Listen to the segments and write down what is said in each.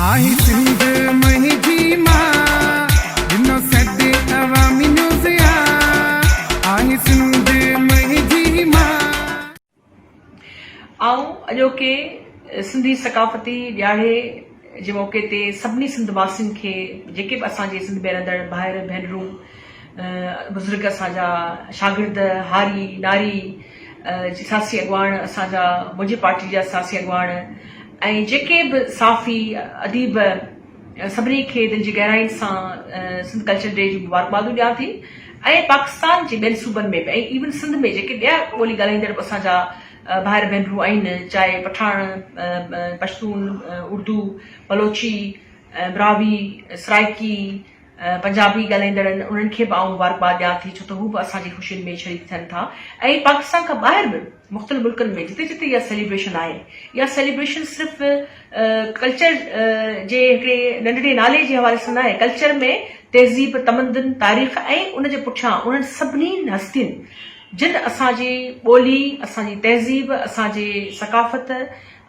آهي سنڌ مهي جي مان ڏنو سڏ عوامي نيوز آ آهي سنڌ مهي جي مان. آئون اڄوڪي سنڌي ثقافتي ڏياڙي جي موقعي تي سڀني سنڌ واسين کي جيڪي به اسان جي سنڌ ۾ رهندڙ ڀائر ڀينرون بزرگ اسان جا شاگرد هاري ناري جي سياسي اڳواڻ اسان جا منهنجي پارٽي جا سياسي اڳواڻ ۽ جيڪي به صحافي اديب سڀني کي دل جي گهراين سان سنڌ ڪلچر ڊي جون مبارڪبادون ڏيان ٿي ۽ پاڪستان جي ٻين صوبن ۾ به ۽ ايون سنڌ ۾ جيڪي ٻيا ٻولي ڳالهائيندڙ به اسان جا ڀائر ڀينرون آهن چاهي پٺاڻ پشتون اردو بلوچي براهوي سرائيڪي پنجابي ڳالهائيندڙن انهن کي به آئون مبارڪباد ڏيان ٿي ڇو ته هو به اسان جي خوشين ۾ شريڪ ٿين ٿا ۽ پاڪستان کان ٻاهر به مختلف ملڪن ۾ جتي جتي اها سيليبريشن آهي اها سيليبريشن صرف ڪلچر جي هڪڙي ننڍڙي نالي جي حوالي سان ناهي ڪلچر ۾ تهذيب تمدن تاريخ ۽ ان جي پٺيان انهن سڀني هستين جن اسان جي ٻولي اسان جي تهذيب اسان جي ثقافت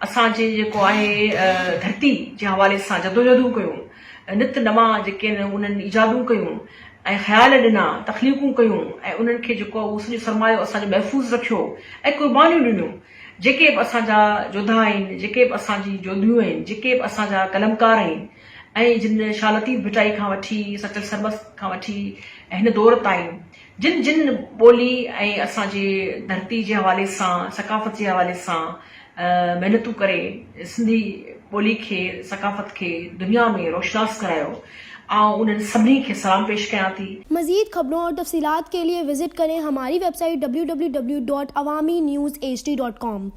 اسان جي جيڪو آهي ڌرتي جي حوالي سان جدوجهدون ڪيون نت نوان جيڪي انهن ايجادون ڪيون ۽ خيال ڏنا، تخليقون ڪيون ۽ انهن کي جيڪو اهو سڄو سرمايو اسان جو محفوظ رکيو ۽ قربانيون ڏنيون، جيڪي به اسان جا جوڌا آهن، جيڪي به اسان جي جوڌيون آهن، جيڪي به اسان جا قلمڪار آهن ۽ جن شاهه لطيف ڀٽائي کان وٺي سچل سرمست کان وٺي هن دور تائين، جن جن ٻولي ۽ اسان جي ڌرتي جي حوالي سان ثقافت جي حوالي سان محنتون ڪري سنڌي ٻولي کي ثقافت کي دنيا ۾ روشناس ڪرايو آئون انهن سڀني کي سلام پيش ڪيان ٿي. مزيد خبرون اور تفصيلات کے لئے وزٽ ڪرين ھماري ويب سائيٽ www.awaminews hd.com.